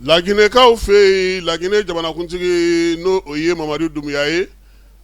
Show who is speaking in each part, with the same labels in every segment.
Speaker 1: laginɛkaw fɛ yen laginɛ jamanakuntigi n'o o ye mamadi dumuya ye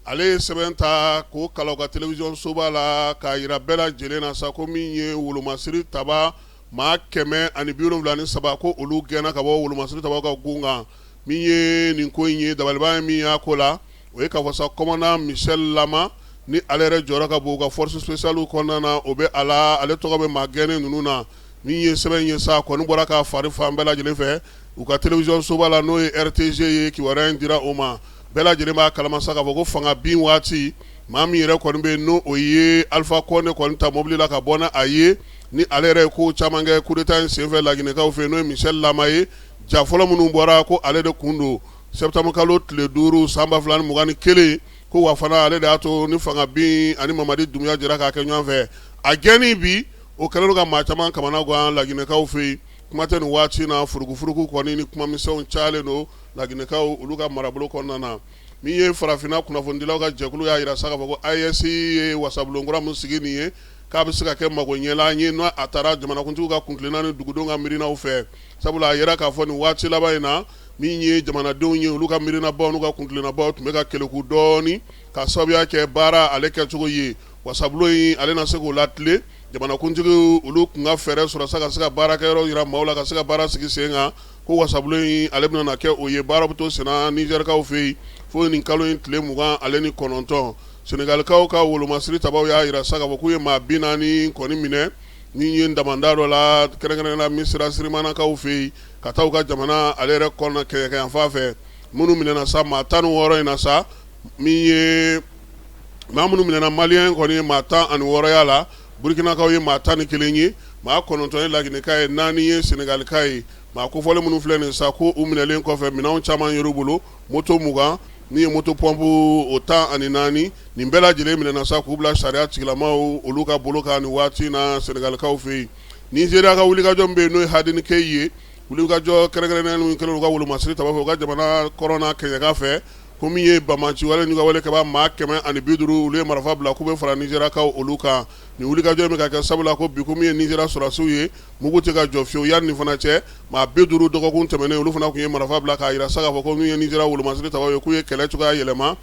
Speaker 1: ale ye sɛbɛn ta k'o kalan u ka télévision soba la k'a jira bɛɛ lajɛlen na sa ko min ye wolomasiri taba maa kɛmɛ ani bi wolonwula ni saba ko olu gɛnna ka bɔ wolomasiri tabaw ka gun kan min ye nin ko in ye dabaliban ye min y'a ko la o ye k'a fɔ sa commandant michel lama ni ale yɛrɛ jɔyɔrɔ ka bon u ka force spéciale kɔnɔna na o bɛ a la ale tɔgɔ bɛ maa gɛnnen ninnu na min ye sɛbɛn ye sa kɔni bɔra ka fari fan bɛɛ lajɛlen fɛ u ka télévision soba la n'o ye RTG ye kibaruya in dira o ma bɛɛ lajɛlen b'a kalama sa k'a fɔ ko fanga bin waati maa min yɛrɛ kɔni bɛ n'o o ye alpha condé kɔni ta mobili la ka bɔ n'a ye ni ale yɛrɛ ye ko caman kɛ coup d'état in senfɛ laginɛkaw fɛ n'o ye michel lama ye ja fɔlɔ minnu bɔra ko ale de kun don septembre kalo tile duuru san ba fila ni mugan ni kelen ko wa fana ale de y'a to ni fanga bin ani mamadi dumuya jɛra k'a kɛ ɲɔgɔn fɛ a gɛnni bi o kɛlen don ka maa caman kamana gan laginɛkaw fɛ yen kuma tɛ nin waati na furukufuruku kɔni ni kumamisɛnw calen don laginɛkaw olu ka marabolo kɔnɔna na min ye farafinna kunnafonidilaw ka jɛkulu y'a jira sa k'a fɔ ko AES ye wasabulon kura min sigi nin ye k'a bɛ se ka kɛ magoɲɛlan ye n'a taara jamanakuntigiw ka kuntilenna ni dugudenw ka miirinaw fɛ sabula a yɛrɛ k'a fɔ nin waati laban in na min ye jamanadenw ye olu ka miirinabaw n'u ka kuntilennabaw tun bɛ ka keleku dɔɔni ka sababuya kɛ baara ale kɛcogo ye wasabulon in ale na se k'o latilen jamanakuntigiw olu kun ka fɛɛrɛ sɔrɔ sa ka se ka baarakɛyɔrɔ jira maaw la ka se ka baara sigi sen kan ko wasabulon in ale bɛna na kɛ o ye baara bɛ to senna nizɛrikaw fɛ yen fo ye nin kalo in tile mugan ale ni kɔnɔntɔn senegalikaw ka wolomasiri tabaw y'a jira sa k'a fɔ k'u ye maa bi naani kɔni minɛ min ye damanda dɔ la kɛrɛnkɛrɛnnenya la misira sirimanakaw fɛ yen ka taa u ka jamana ale yɛrɛ kɔnɔna kɛɲɛkayanfan fɛ minnu minɛna sa maa tan ni wɔɔrɔ in na sa min ye maa minnu minɛna malien kɔni ye maa tan ani wɔɔrɔ y'a la burukinakaw ye maa tan ni kelen ye maa kɔnɔntɔn ye laginɛka ye naani ye senegalika ye maa kofɔlen minnu filɛ nin sa ko u minɛlen kɔfɛ minɛnw caman yer'u bolo moto mugan min ye moto pompe o tan ani naani nin bɛɛ lajɛlen minɛna sa k'u bila sariya tigilamaw olu ka bolo kan nin waati na senegalikaw fɛ yen nizeriya ka wulikajɔ min bɛ yen n'o ye hadin kai ye wulikajɔ kɛrɛnkɛrɛnnen kɛlen u ka wolomasiri taba fɛ u ka jamana kɔrɔn kɛɲɛka fɛ ko min ye banbaanci wale n'u ka wale kɛba maa kɛmɛ ani bi duuru olu ye marifa bila k'u bɛ fara nizeriyakaw olu kan nin wulikajɔ in bɛ ka kɛ sabula ko bi ko min ye nizeriya sɔrɔdasiw ye mugu tɛ ka jɔ fiyewu yanni nin fana cɛ maa bi duuru dɔgɔkun tɛmɛnen olu fana tun ye marifa bila k'a jira sa k'a fɔ ko min ye nizeriya wolomasiri taba ye k'u ye kɛlɛ cogoya yɛlɛma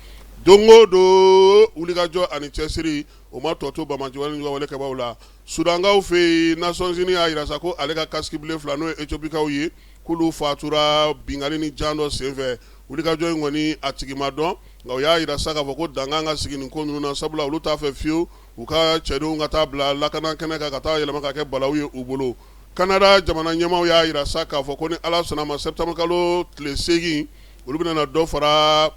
Speaker 1: don o don wulikajɔ ani cɛsiri o ma tɔ to banbaanci wale n'u ka wale kɛbaw la Sudankaw fɛ yen Nations Unies y'a jira sa ko ale ka casque bleu fila n'o ye Etiopikaw ye k'olu faatura binkanni ni jan dɔ senfɛ. Wulikajɔ in kɔni a tigi ma dɔn, nka u y'a jira sa k'a fɔ ko dankan ka sigi nin ko ninnu na, sabula olu t'a fɛ fiyewu u ka cɛdenw ka taa bila lakana kɛnɛ kan ka taa yɛlɛma ka kɛ balawu ye u bolo. Canada jamana ɲɛmaaw y'a jira sa k'a fɔ ko ni Ala sɔnn'a ma sɛpitɛnburukalo tile seegin olu bɛna na dɔ fara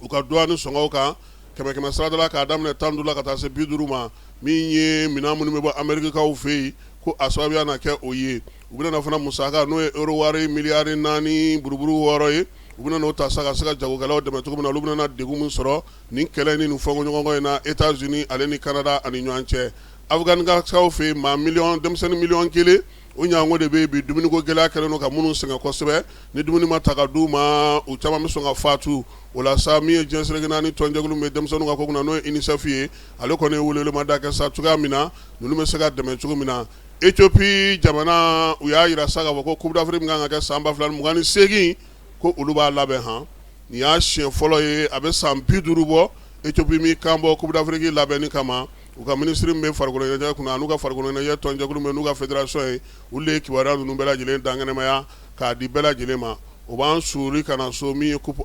Speaker 1: u ka duwani sɔngɔw kan. kɛmɛ kɛmɛ sarada la k'a daminɛ 15 la ka taa se 50 ma min ye minɛn minnu bɛ bɔ Amerikakaw fɛ yen ko a sababuya na kɛ o ye u bɛna na fana musaka n'o ye euro wari miliyari naani buruburu wɔɔrɔ ye u bɛna n'o ta sa ka se ka jagokɛlaw dɛmɛ cogo min na olu bɛna na degun min sɔrɔ nin kɛlɛ ni nin fɔnkɔɲɔgɔnkɔ in na Etats-Unis ale ni Canada ani ɲɔgɔn cɛ Afganikaw fɛ yen maa miliyɔn denmisɛnnin miliyɔn kelen O ɲɔgɔnko de bɛ yen bi dumuniko gɛlɛya kɛlen don ka minnu sɛgɛn kosɛbɛ ni dumuni ma ta ka d'u ma u caman bɛ sɔn ka fatu o la sa min ye diɲɛ seleke naani tɔnjɛkulu min bɛ denmisɛnninw ka ko kunna n'o ye UNICEF ye ale kɔni ye welewelemada kɛ sa cogoya min na ninnu bɛ se ka dɛmɛ cogo min na Etiopi jamana u y'a jira sa k'a fɔ ko Coupe d'Afrique min kan ka kɛ san 2028 ko olu b'a labɛn han nin y'a siɲɛ fɔlɔ ye a bɛ san bi duuru bɔ Etiopi min kan bɔ Coupe d'Afrique labɛnni kama U ka minisiri min bɛ farikoloɲɛnajɛ kunna n'u ka farikoloɲɛnajɛ tɔnjɛkulu min n'u ka fédération ye olu de ye kibaruya ninnu bɛɛ lajɛlen dankɛnɛmaya k'a di bɛɛ lajɛlen ma o b'an suuru ka na so min ye Coupe